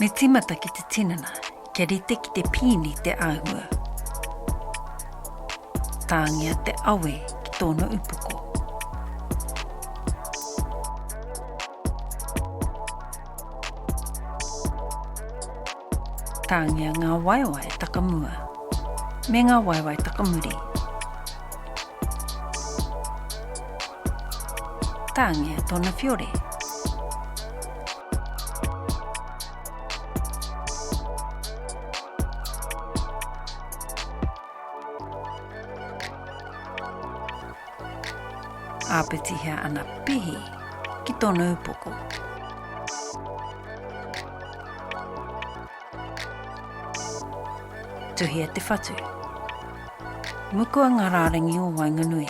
Me tīmata ki te tinana, kia rite ki te pīni te āhua. Tāngia te awe ki tōna upoko. Tāngia ngā waewae takamua me ngā waewae takamuri. Tāngia tōna whiore. Āpitihia ana pihi ki tōna upoko. Tuhia te whatu. Mukua ngā rārangi o waenganui.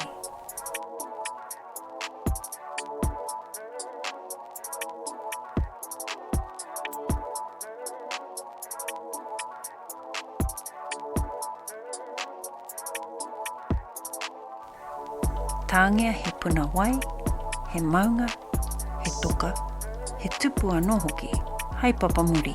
Tāngia he puna wai, he maunga, he toka, he tupu anō hoki, hai papamuri.